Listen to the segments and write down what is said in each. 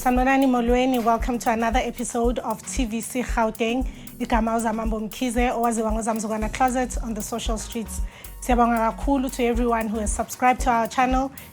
Sanolani Molweni, welcome to another episode of TVC Gauteng. Igama uZamambo Mkhize owaziwa ngoZamzukwana Closet on the social streets. Siyabonga kakhulu to everyone who has subscribed to our channel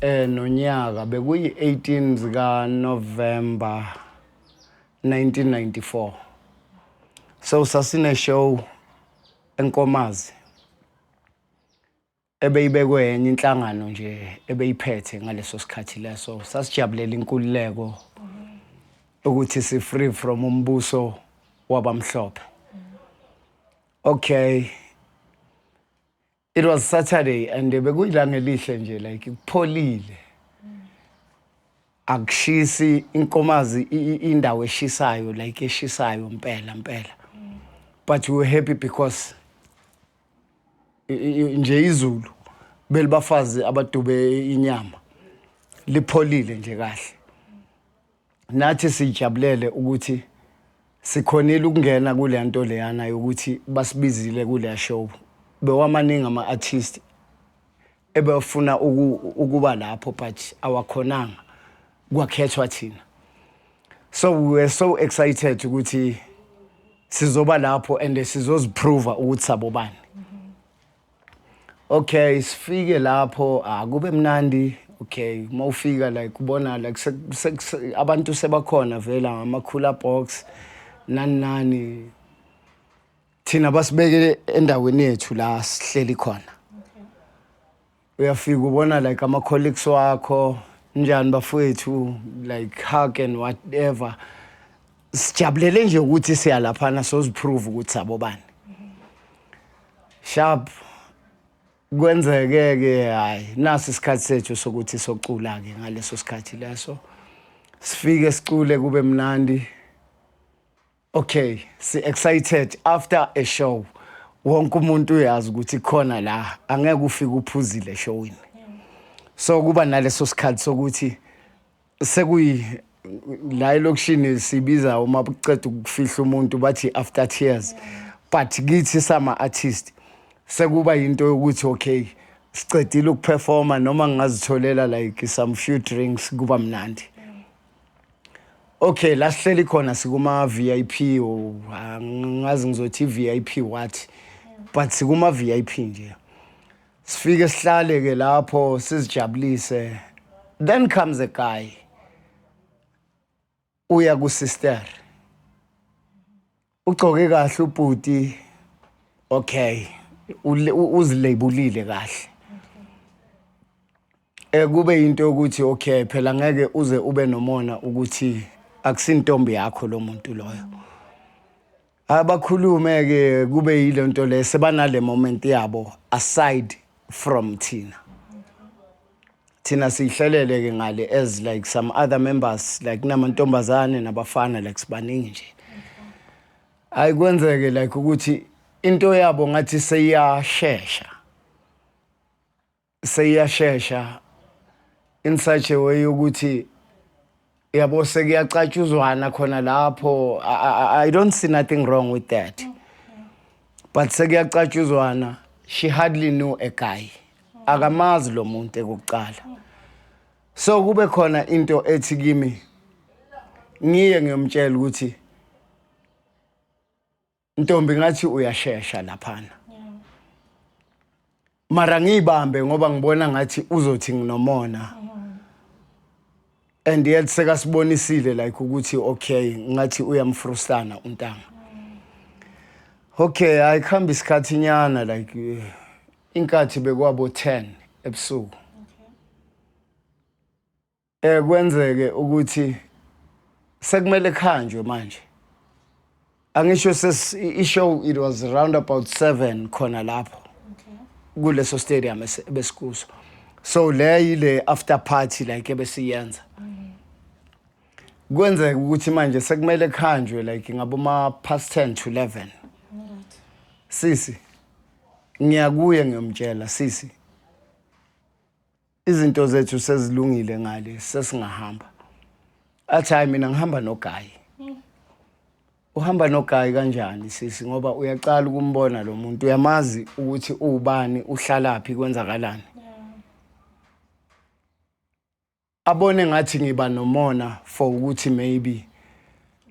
Eh nonyaka bekuyi-18 zikaNovember 1994. So sasine show enkomazi ebeyibekwe enye inhlangano nje ebeyiphethe ngaleso sikhathi leso sasijabulela inkululeko ukuthi si free from umbuso wabamhlophe okay It was Saturday and bekuyilanga elihle nje like kupholile. Akushisi inkomazi indawo eshisayo like eshisayo impela impela. But we were happy because nje izulu belibafazi abadube inyama lipholile nje kahle. Nathi sijabulele ukuthi sikhonile ukungena kule nto leyana yokuthi basibizile kule show. Bewamaningi ama-artist ebefuna ukuba lapho but awakhonanga kwakhethwa thina. So we were so excited ukuthi sizoba lapho and sizoziprova ukuthi sabobani. Okay, sifike lapho akube ah, mnandi. Okay, uma ufika like kubona like abantu sebakhona vela ngamakhula box nani nani thina basibeke endaweni yethu la sihleli khona uyafika ubona like ama colleagues wakho njani bafowethu like hug and whatever sijabulele nje ukuthi siya laphana soziprove ukuthi sabobani sharp kwenzeke ke hayi nasi isikhathi sethu sokuthi socula ke ngaleso sikhathi leso sifike sicule kube mnandi okay si excited after a show wonke umuntu uyazi ukuthi khona la angeke ufike uphuzile showini so kuba naleso sikhathi sokuthi sekuyi la elokishini sibiza uma buceda ukufihla umuntu bathi after tears but kithi sama artist sekuba into yokuthi okay sicedile ukuperforma noma ngingazitholela like some few drinks kuba mnandi okay la sihleli khona sikuma VIP ngazi ngizothi VIP what but sikuma VIP nje sifike sihlale ke lapho sizijabulise then comes a guy uya ku sister ugcoke kahle ubhuti okay uzilebulile kahle Eh kube into yokuthi okay phela ngeke uze ube nomona ukuthi akusintombi yakho lo muntu loyo. Abakhulume ke kube yilento le sebanale moment yabo aside from thina. Thina sihlelele ke ngale as like some other members like namantombazane nabafana like sibaningi nje. Ayikwenzeke like ukuthi into yabo ngathi seyashesha. seyiyashesha in such a way ukuthi yabo sekuyacatshuzwana khona lapho I, I don't see nothing wrong with that but sekuyacatshuzwana she hardly knew a guy akamazi lo muntu ekuqala so kube khona into ethi kimi ngiye ngiyomtshela ukuthi Ntombi ngathi uyashesha laphana. Mara ngiyibambe ngoba ngibona ngathi uzothi nginomona. And yet sekasibonisile like ukuthi okay ngathi uyamfrustana untanga. Okay, I come isikhathi nyana like eh, inkathi bekwabo 10 ebusuku. Eh kwenzeke ukuthi sekumele khanjwe manje. Angisho ses i show it was around about 7 khona lapho. Okay. Kuleso stadium besikuso. So le yile after party like ebesiyenza. Kwenzeka ukuthi manje sekumele khanjwe like ngabo ma past 10 to 11. Sisi ngiyakuye ngiyomtshela sisi izinto zethu sezilungile ngale sesingahamba athi hayi mina ngihamba nogayi uhamba nogayi kanjani sisi ngoba uyaqala ukumbona lo muntu uyamazi ukuthi uwubani uhlalaphi kwenzakalani abone ngathi ngiba nomona for ukuthi maybe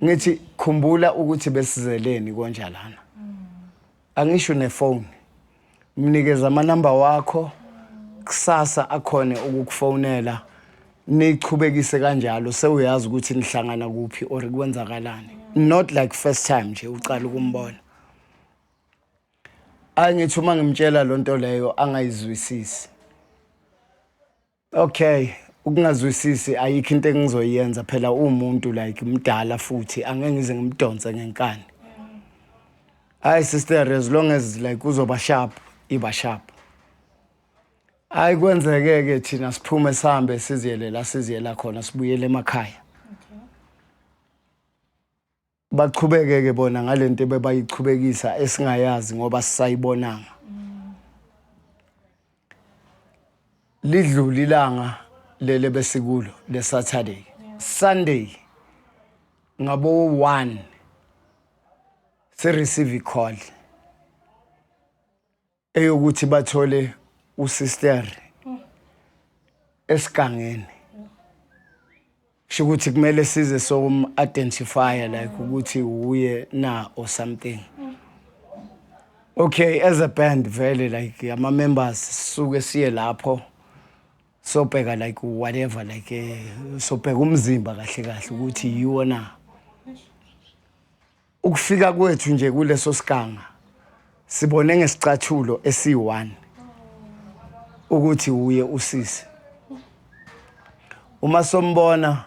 ngithi khumbula ukuthi besizeleni konja lana angisho nefoni mnikeze amanamba wakho kusasa akhone ukukufonela nichubekise kanjalo sewuyazi ukuthi nihlangana kuphi or kwenzakalani not like first time nje ucala ukumbona angithi uma ngimtshela lonto leyo angayizwisisi Okay, ukungazwisisi ayikho into engizoyenza phela umuntu like mdala futhi angeke ngize ngimdonse ngenkani. Hayi sister as long as like uzoba sharp, iba sharp. Hayi kwenzeke ke thina siphume sihambe siziyele la siziyela khona sibuyele emakhaya. baqhubeke ke bona ngalento bebayiqhubekisa esingayazi ngoba sisayibonanga lidlule ilanga lele besikulo le Saturday Sunday ngabo 1 se receive call eyokuthi bathole usister esigangeni kusho ukuthi kumele size som identify like ukuthi uye na or something okay as a band vele like ama members suke siye lapho sobheka like whatever like eh, sobheka umzimba kahle kahle ukuthi yiwo na Ukufika kwethu nje kuleso siganga sibone ngesicathulo esi-1 ukuthi wuye usisi. Uma sombona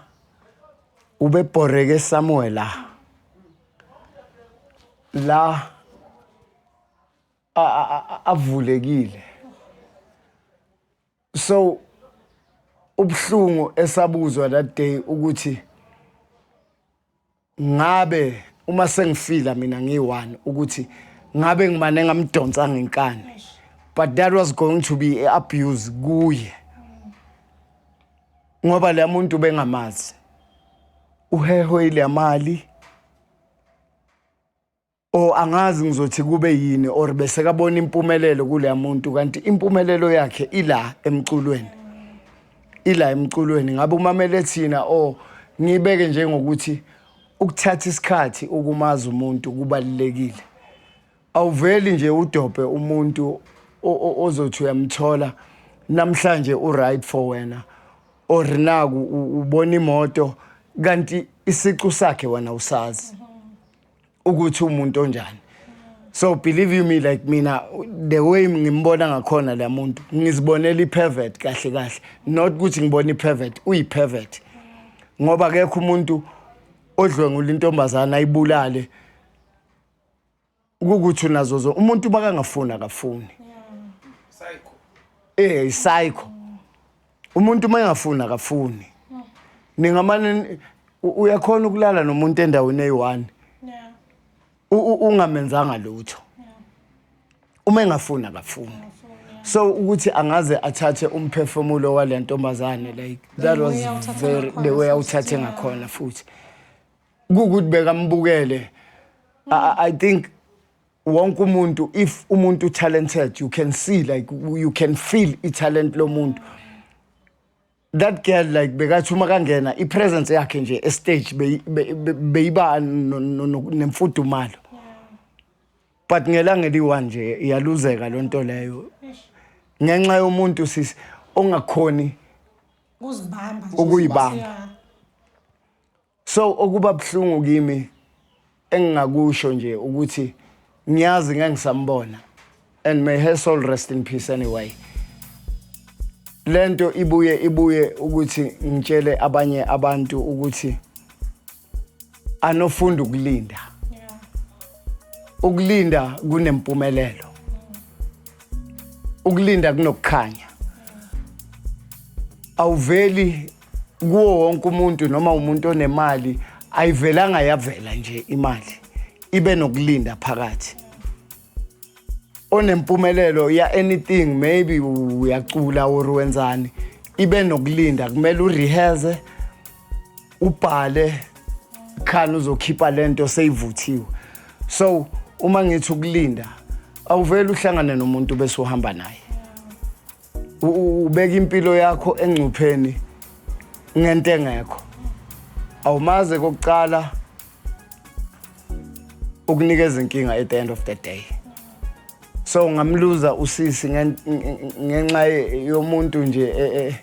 ubebhoreke somewhere la. La avulekile. So ubuhlungu esabuzwa that day ukuthi ngabe uma sengifila mina ngiyi-one ukuthi ngabe ngimane ngamdonsa ngenkani but that was going to be i-abuse kuye ngoba leya muntu bengamazi uhehwe ile mali O angazi ngizothi kube yini or bese kabona impumelelo kuleya muntu kanti impumelelo yakhe ila emculweni. Ila emculweni ngabe umamele thina o ngibeke njengokuthi ukuthatha isikhathi ukumaza umuntu kubalekile. Awuveli nje udobhe umuntu ozothi uyamthola namhlanje u right for wena or naku ubona imoto kanti isicu sakhe wena usazi. ukuthi umuntu onjani so believe you me like mina the way ngimbona ngakhona la muntu ngizibonela i-pervert kahle kahle not ukuthi ngibona i-pervert uyi-pervert ngoba kekho umuntu odlwengula intombazana ayibulale ukuthi unazo zo umuntu makangafuni akafuni eh psycho umuntu uma engafuni akafuni ningamane uyakhona ukulala nomuntu endaweni eyi-one ungamenzanga lutho uma engafuni akafuni so ukuthi angaze athathe umphefumulo wale ntombazane like that was very the way awuthathe ngakhona futhi kukuthi bekambukele i think wonke umuntu if umuntu talented you can see like you can feel italent lomuntu that girl like bekathi uma kangena ipresence yakhe nje estage beyiba nemfudumalo but ngelanga eliwa nje iyaluzeka lo nto leyo ngenxa yomuntu sisi ongakhoni ukuyibamba So okuba buhlungu kimi engingakusho nje ukuthi ngiyazi ngangisambona and may her soul rest in peace anyway lento ibuye ibuye ukuthi ngitshele abanye abantu ukuthi anofunda ukulinda ukulinda kunempumelelo ukulinda kunokukhanya awuveli kuwo wonke umuntu noma umuntu onemali ayivelanga yavela nje imali ibe nokulinda phakathi onempumelelo ya anything maybe uyacula or wenzani ibe nokulinda kumele urehearse ubhale khani uzokhipha lento seyivuthiwe so uma ngithi ukulinda awuvele uhlangane nomuntu bese uhamba naye ubeka impilo yakho engcupheni ngento engekho awumaze kokucala ukunikeza inkinga at the end of the day so ngamluza usisi ngenxa yomuntu nje eh, eh,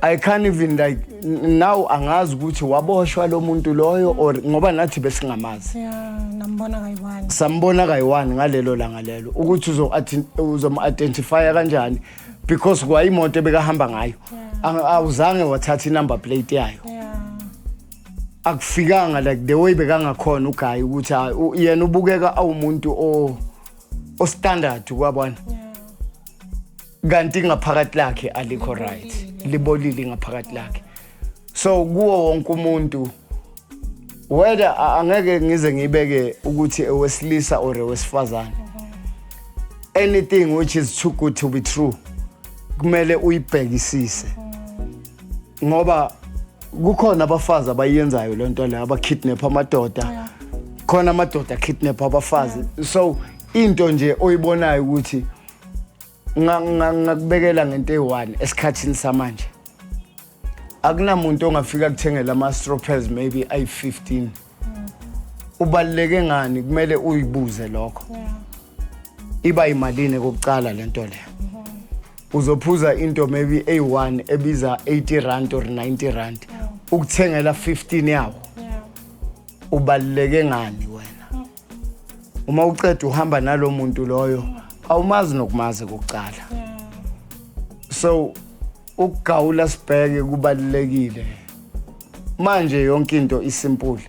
I can't even like now angazi ukuthi waboshwa lo muntu loyo or ngoba nathi besingamazi. Yeah, nambona kayiwani. Sambona kayiwani ngalelo langa lelo ukuthi uzo uzom identify kanjani because kwa imoto ebekahamba ngayo. Awuzange wathatha inumber plate yayo. Yeah. Akufikanga like the way bekangakhona ugayi ukuthi ah, yena ubukeka awumuntu o o standard kwabona. Yeah. kanti ngaphakathi lakhe alikho right libolile ngaphakathi lakhe so kuwo wonke umuntu whether angeke ngize ngibeke ukuthi ewesilisa or ewesifazane anything which is too good to be true kumele uyibhekisise ngoba kukhona abafazi abayenzayo le nto leyo abakidnap amadoda khona amadoda akidnap abafazi so into nje oyibonayo ukuthi ngakubekela ngento eyi-one esikhathini samanje akunamuntu ongafika kuthengela ama-stropers maybe ayi-15 ubaluleke ngani kumele uyibuze lokho iba yimalini kokucala le nto leyo uzophuza into maybe eyi-one ebiza 80 rand or 90 rand ukuthengela 15 yawo ubaluleke ngani wena uma uqeda uhamba nalo muntu loyo awumazi nokumazi kokucala so ukugawula sibheke kubalulekile manje yonke into isimpule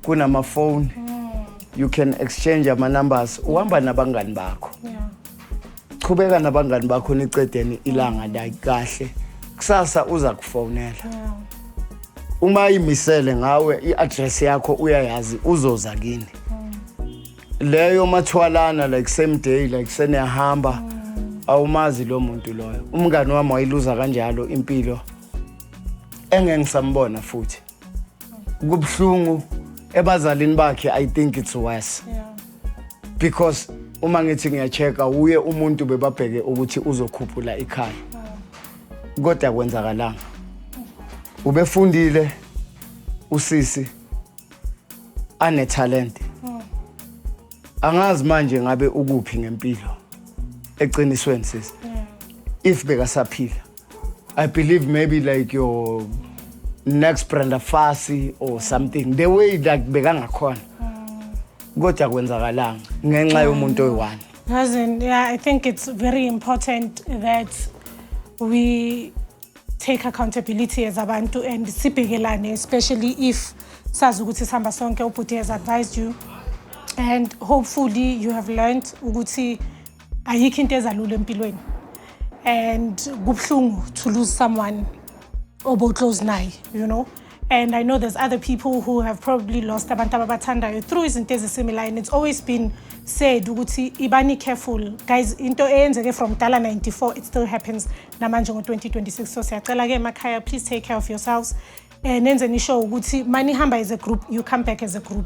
kunamafoni you can exchange ama numbers uhamba nabangani bakho qhubeka nabangani bakho nicedeni ilanga la kahle kusasa uza kufonela uma imisele ngawe i-address yakho uyayazi uzoza kini leyo mathwalana like same day like seniyahamba awumazi lo muntu loyo umngani wami wayiluza kanjalo impilo engengisambona futhi kubuhlungu ebazalini bakhe i think it's worse yeah. because uma ngithi ngiyachecka wuye umuntu bebabheke ukuthi uzokhuphula ikhaya wow. kodwa kwenzakalanga ubefundile usisi anetalent hmm. angazi manje ngabe ukuphi ngempilo eqinisweni sisi hmm. if bekasaphila I believe maybe like your next Brenda Fassie or something the way like bekangakhona kodwa kwenzakalanga ngenxa yomuntu oyi-one Cousin, yeah, I think it's very important that we take accountability as abantu and sibhekelane, especially if sazi ukuthi sihamba sonke ubhuti has advised you and hopefully you have learned ukuthi ayikho into ezalula empilweni and kubuhlungu to lose someone obo-close naye you know and i know there's other people who have probably lost abantu ababathandayo through izinto ezisimilayo and it's always been said ukuthi ibani careful guys into eyenzeke from dala 94 it still happens namanje ngo-2026 so siyacela-ke emakhaya please take care of yourselves um nenze nisho ukuthi manihamba as a group you come back as a group